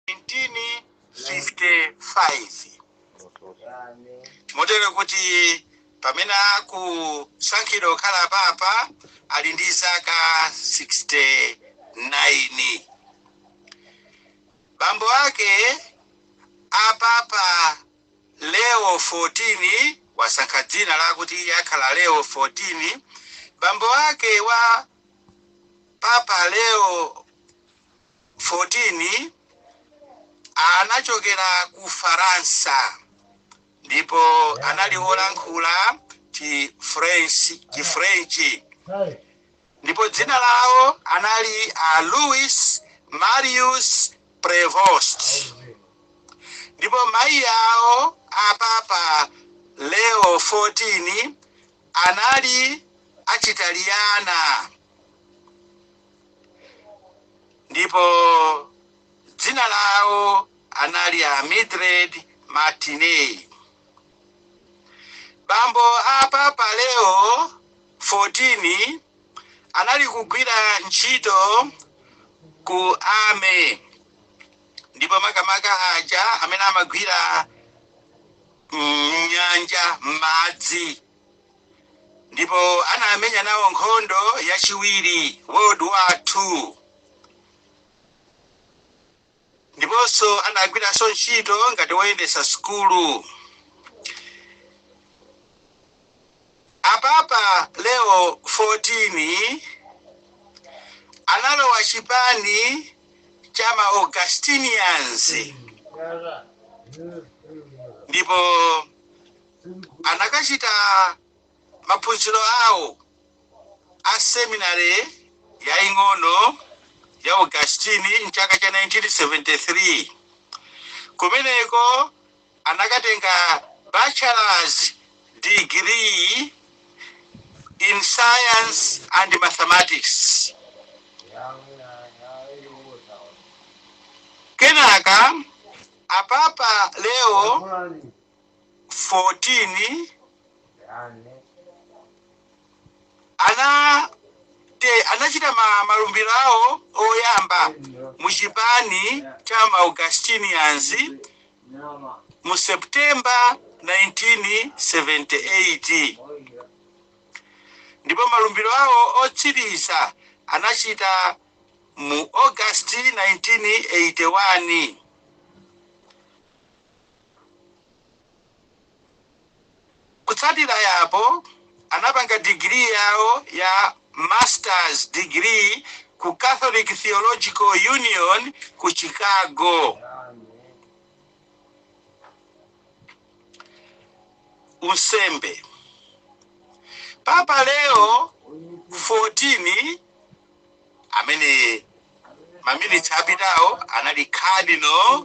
1955 motero kuti pamene akusankhidwa kukhala papa ali ndi zaka 69 bambo ake a papa leo 14 wasankha dzina lakuti iye akhala leo 14 bambo ake wa papa leo 14 anachokera ku Faransa ndipo anali wolankhula Chifrenchi ndipo dzina lawo anali a Louis Marius Prevost ndipo mayi awo a Papa Leo 14 anali achitaliyana. ndipo dzina lawo anali a Mildred Martinez. Bambo a Papa Leo 14 anali kugwira ntchito ku army ndipo makamaka aja amene amagwira m'nyanja m'madzi ndipo anamenya nawo nkhondo yachiwiri world war 2 ndiponso anagwiranso ntchito ngati woyendetsa sukulu a papa leo 14 analowa chipani cha ma augustinians ndipo anakachita maphunziro awo a seminary yaing'ono ya Augustine mchaka cha 1973 kumeneko anakatenga bachelors degree in science and mathematics kenaka a papa leo 14 ana te anachita ma, malumbiro awo oyamba mu chipani cha ma Augustinians mu September 1978 ndipo malumbiro awo otsiriza anachita mu August 1981 Kutsatira apo, anapanga digiri yawo ya Masters Degree ku Catholic Theological Union ku Chicago. Unsembe. Papa Leo 14 amene maminitsi apitawo anali Cardinal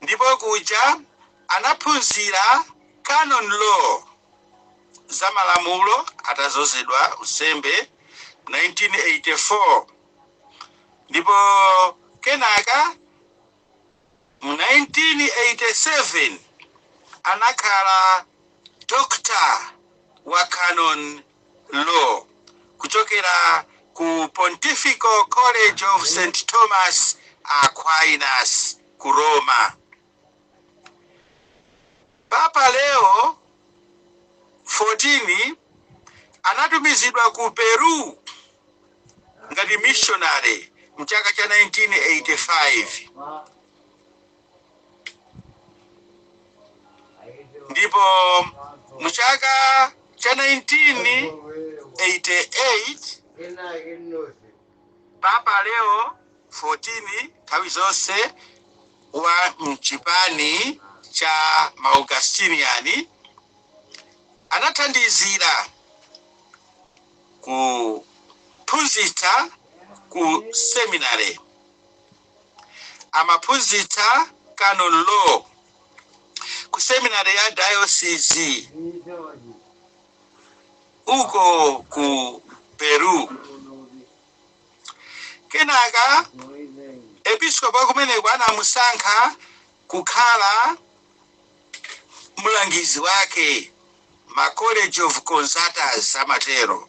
Ndipo kuja anaphunzira Canon Law, za malamulo atadzozedwa unsembe 1984 ndipo kenaka mu 1987 anakhala Doctor wa Canon Law, kuchokera ku Pontifical College of St. Thomas Aquinas ku Roma. Papa Leo 14 anatumizidwa ku Peru ngati missionary m'chaka cha 1985. ndipo mu chaka cha 1988 papa leo 14 nthawi zonse wa mchipani cha ma augustinian anathandizira kuphunzitsa ku seminary Amaphunzitsa Canon Law ku seminary ya dayosizi uko ku Peru. Kenaka episkopi wa kumeneko anamusankha kukhala mlangizi wake ma college of consultors amatero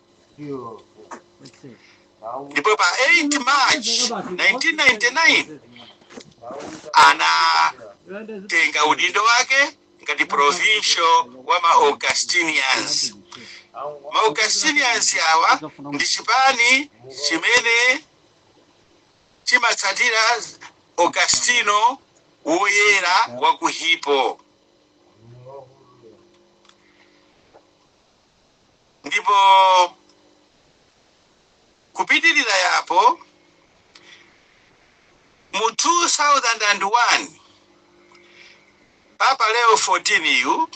ndipo pa 8 march 1999 anatenga udindo wake ngati provincial wa ma augustinians ma augustinians awa ndi chipani chimene chimatsatira augustino woyera wa ku hippo Ndipo kupitirira yapo, mu 2001, Papa Leo 14 yu,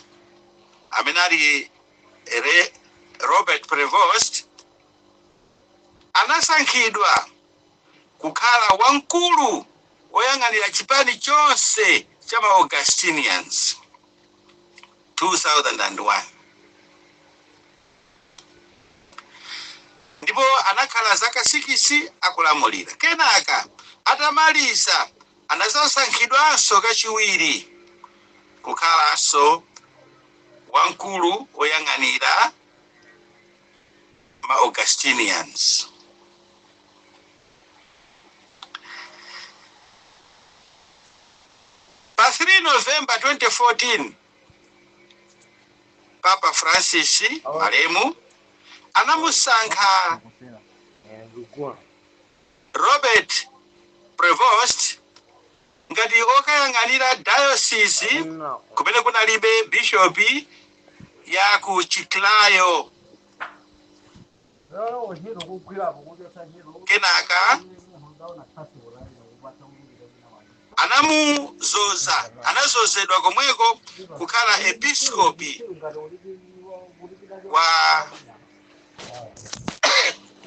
amene ali Robert Prevost, anasankhidwa kukhala wamkulu woyang'anira chipani chonse cha ma Augustinians. 2001 ndipo anakhala zaka sikisi akulamulira. Kenaka atamaliza anazasankhidwanso kachiwiri kukhalanso wamkulu woyang'anira ma Augustinians. Pa 3 November 2014, Papa Francis malemu anamusankha Robert Prevost ngati okayang'anira diocese kumene kunalibe bishopi ya ku Chiclayo. kenaka anamuzoza anazozedwa komweko kukhala episkopi wa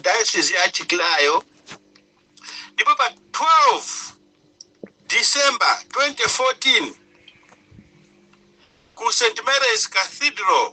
diocese ya chiclayo ndipo pa 12 december 2014 ku st mary's cathedral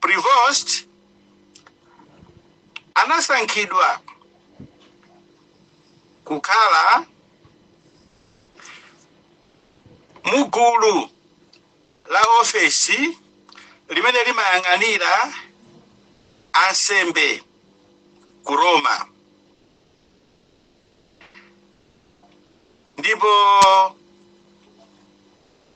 Prevost anasankhidwa kukhala mugulu la ofesi limene limayang'anira ansembe ku Roma ndipo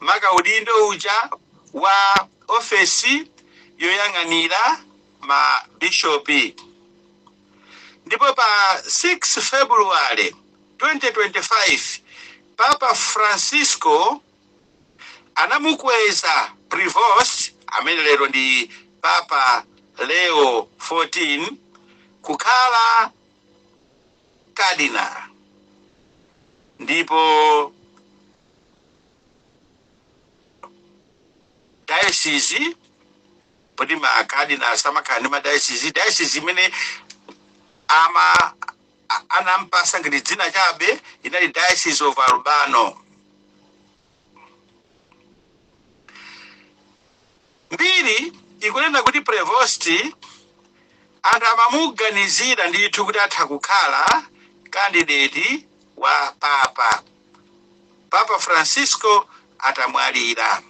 maka udindo uja wa ofesi yoyang'anira ma bishopi. Ndipo pa 6 February 2025, Papa Francisco anamukweza Prevost, amene lero ndi Papa Leo 14, kukhala Cardinal ndipo dayosizi poti makadinozi amakhala ndi madayosizi dayosizi imene ama a- anampasa ngati dzina chabe inali diocese of Albano Mbiri ikunena kuti Prevost anthu amamuganizira ndithu kuti atha kukhala kandideti wa papa, Papa Francisco atamwalira.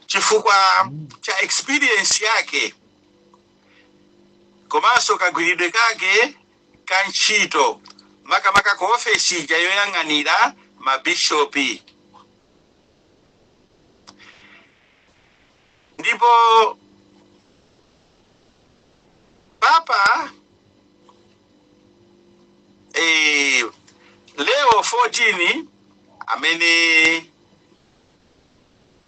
Chifukwa cha experience yake komanso kagwiridwe kake ka ntchito makamaka ku ofesi ija yoyang'anira mabishopi. Ndipo Papa eh, Leo 14 amene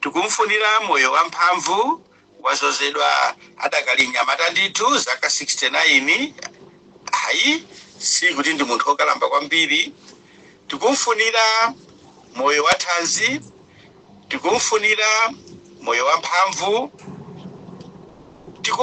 Tikumfunira moyo wamphamvu, wadzozedwa adakali mnyamata ndithu, zaka 69, ayi sikuti ndi munthu okalamba kwambiri. Tikumfunira moyo wathanzi, tikumfunira moyo wamphamvu, tiku.